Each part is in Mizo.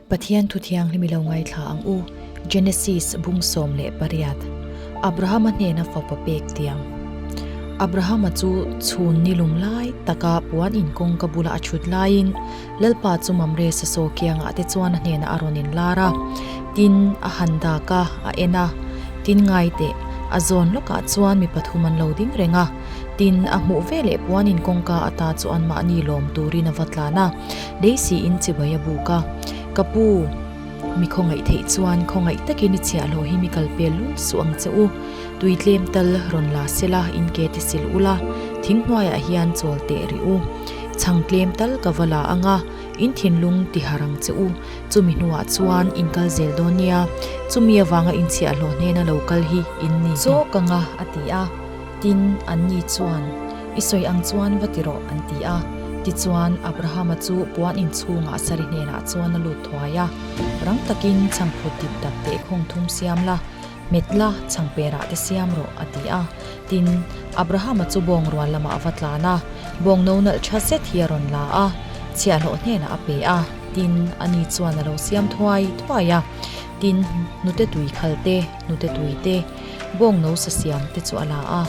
Pathian Thu Thianghlim i lo ngaithla ang u, Genesis bung sawm leh pariat, Abrahama hnena fapa pek tiang. Abrahama chu chhun ni lum lai taka puan in kawngka bula a chhut laiin Lalpa chu mam resa saw kiangah te chuan a hnena a rawn in lar a, tin a han dak a, a en a. Tin ngai teh, a zawn lawkah chuan mi pathum an lo ding reng a, tin a hmuh veleh puan in kawngka ata chu anmahni lawm turin a va tlan a. Daisy in chivai a buk a, Ka pu, mi khawngaih theih chuan khawngaih takin i chhiah hlawh hi mi kal pel lul suh ang che u. Tui tlem tal rawn la se la, in ke ti sil u la, thing hnuaiah hian chawl teh rih u. Chhang tlem tal ka va la ang a, in thinlung ti har ang che u. Chumi hnuah chuan in kal zel dawn nia, chumi avanga in chhiah hlawh hnena lo kal hi in ni zawk ang a, a ti a. Tin, anni chuan, I sawi ang chuan va ti rawh, an ti a. Tichuan, Abrahama chu puan inchhungah sarih hnenah chuan a lut thuai a. Rang takin chhangphut diptap teh khawng thum siam la, hmet la, chhangperah te siam rawh, a ti a. Tin, Abrahama chu bawng rual lamah a va tlan a. Bawng no nalh tha zet hi a rawn la a, chhiahhlawh hnenah a pe a. Tin, ani chuan a lo siam thuai thuai a. Tin, nute tui khalte. Hnute tui te, bawng no sa siam te chu a la a,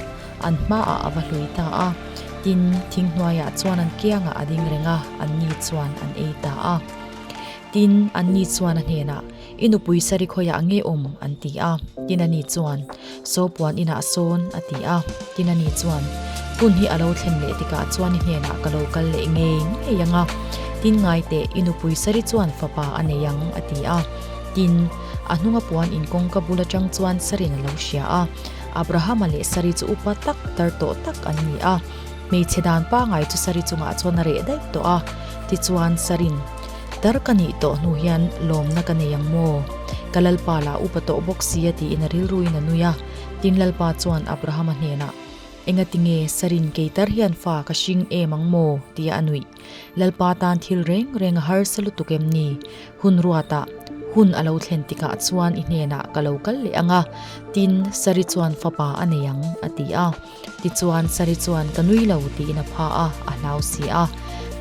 an hmaah a va hlui ta a, tin, thing hnuaiah chuan an kiangah a ding reng a, an ni chuan an ei ta a. Tin, an ni chuan a hnenah, I nupui Sarikhawiah nge awm? an ti a, tin a ni chuan, Sawpuan inah sawn, a ti a, tin a ni chuan, Hun hi a lo thlen leh tikah chuan i hnenah ka lo kal leh ngei ngei ang a, tin ngai teh, i nupui Sari chuan fapa a nei ang, a ti a, tin, a hnunga puan in kawngka bul atang chuan Sarin a lo hria a. Abrahama leh Sari chu upa tak, tar tawh tak an ni a. Hmeichhe dan pangai chu Sari chungah chuan a reh daih tawh a. Tichuan Sarin, Tar ka nih tawh hnu hian lawmna ka nei ang maw? Ka lalpa lah upa tawh bawk sia tiin a rilruin a nui a. Tin lalpa chuan Abrahama hnenah, Engatinge Sarin kei tar hian fa ka hring em ang maw? tia a nuih. Lalpa tan thil reng renga harsa lutuk em ni? Hun ruatah hun a lo thlen tikah chuan i hnenah ka lo kal leh ang a, tin Sari chuan fapa a nei ang a ti a. Tichuan Sari chuan ka nui lo tiin a phah a, a hlau si a.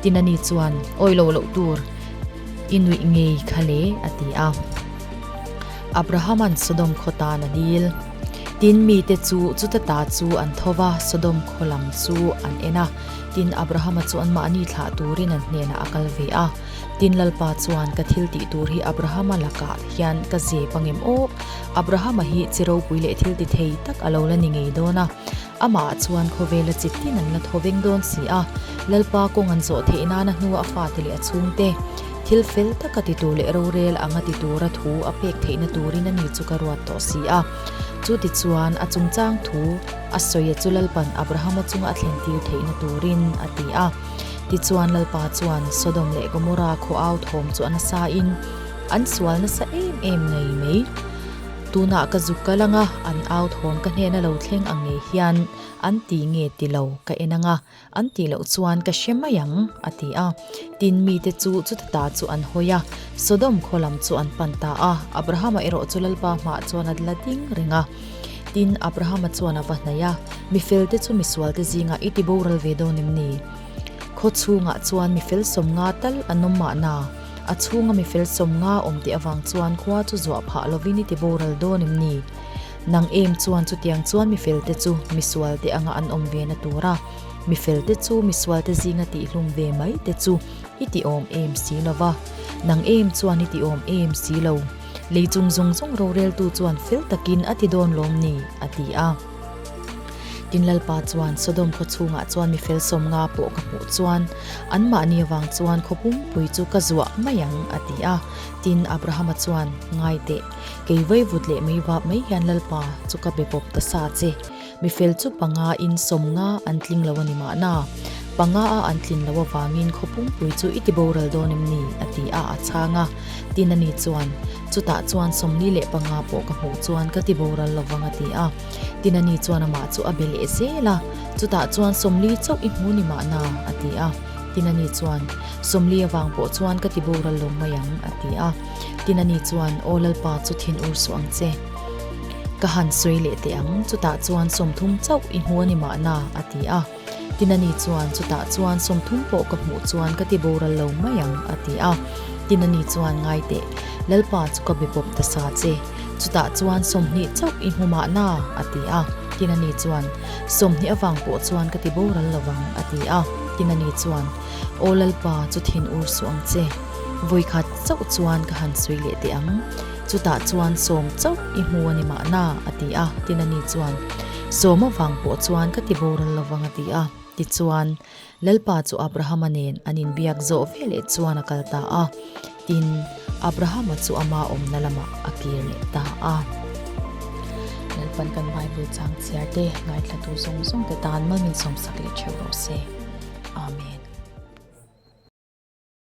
Tinani chuan awi lo loh tur i nuih ngei kha le a ti a. Abrahaman Sodom khaw tan a dil. Tin mite chu chuta ta chu an tho va, Sodom khaw lam chu an en a. Tin, Abrahama chuan mahni thlah turin an hnenah a kal ve a. Tin, Lalpa chuan, Ka thil tih tur hi Abrahama lakah hian ka zep a ngem awk. Abrahama hi chi ropui leh thilti thei tak a lo la ni ngei dawn a. Amah chuan khawvela chi tin an la thaw veng dawn si a. Lalpa kawng an zawh theih nan a hnua a fate leh a chhungte thil fel taka ti tur leh rorel anga ti tura thu a pek theihna turin a ni chu ka ruat tawh si a. Chutichuan, a chungchang thu, A sawia chu Lalpan Abrahama chunga a thlentir theihna turin a ti a. Tichuan Lalpa chuan Sodom leh Gomorrah khuaau thawm chu a nasain an sual nasa em em ngei mai. Tunah ka zuk ka langa an au thawm ka hnena lo thleng ang ngei hian an ti nge ti lo ka en anga. An tih loh chuan ka hre mai ang, a ti a. Tin, mite chu chutata chu an hawi a, Sodom khaw lam chu an pan ta a. Abrahama erawh chu Lalpa hmah chuan a la ding reng a. Tin, Abrahama chuan a va hnaih a, Mi felte chu misualte zingah i ti boral ve dawn em ni? Khaw chhungah chuan mi fel sawmnga tal an awm mahna, a chhunga mi fel sawmnga awm teh avang chuan khua chu zuah phah lovin i ti boral dawn em ni? Nang em chuan chutiang chuan mifelte chu misualte anga an awm ve na tur a, mifelte chu misualte zinga tihhlum ve mai te chu i ti awm em si lo va, nang em chuan i ti awm em si lo, lei chung zawng zawng roreltu chuan fel takin a ti dawn lawm ni? a ti a. Tin Lalpa chuan, Sodom khaw chhungah chuan mi fel sawm nga pawh ka hmuh chuan anmahni avang chuan khaw pumpui chu ka zuah mai ang, a ti a. Tin Abrahama chuan, Ngaiteh. Kei vai vut leh mai vap mai hian Lalpa chu ka be bawp ta sa che. Mifel chu panga in sawm nga an tling lo a ni mahna. Panga a an tlin loh avangin khaw pungpui chu i ti boral dawn em ni? a ti a a chhang a tin a ni chuan. Chutah chuan sawm ni leh panga pawh ka hmuh chuan ka ti boral lo vang a ti a tin a ni chuan amah chu a be leh zel a. Chutah chuan Sawmli chauh i hmu ni mahna? a ti a tin a ni chuan. Sawmli avang pawh chuan ka ti boral lo mai ang a ti a. Tina ni chuan, Aw Lalpa chu thin ur suh ang che. Ka han sawi leh teh ang, chutah chuan sawmthum chauh i hmu a ni mahna, a ti a. Tina ni chuan, Chutah chuan sawmthum pawh ka hmuh chuan ka ti boral lo mai ang, a ti a. Tina ni chuan, Ngai teh, Lalpa chu ka be bawp ta sa che. Chutah chuan sawmhnih chauh i hmu mahna, a ti a. Tina ni chuan, Sawmhnih avang pawh chuan ka ti boral lo vang, a ti a. Tina ni chuan, Aw Lalpa chu thin ur suh ang che. Vawikhat. chauh chuan ka han sawi leh teh ang. Chutah chuan Sawm chauh i hmu a ni mahna, a ti a, Tinani chuan Sawm avang pawh chuan ka ti boral lo vang a ti a. Tichuan, Lalpa chu Abrahama nen an inbiak zawh ve leh chuan a kal ta a, tin, Abrahama chu ama awmna lamah a kir leh ta a. Lalpan kan Bible changchhiar te, ngaithlatu zawng zawng te tan mal min sawmsak leh theuh rawh se. Amen.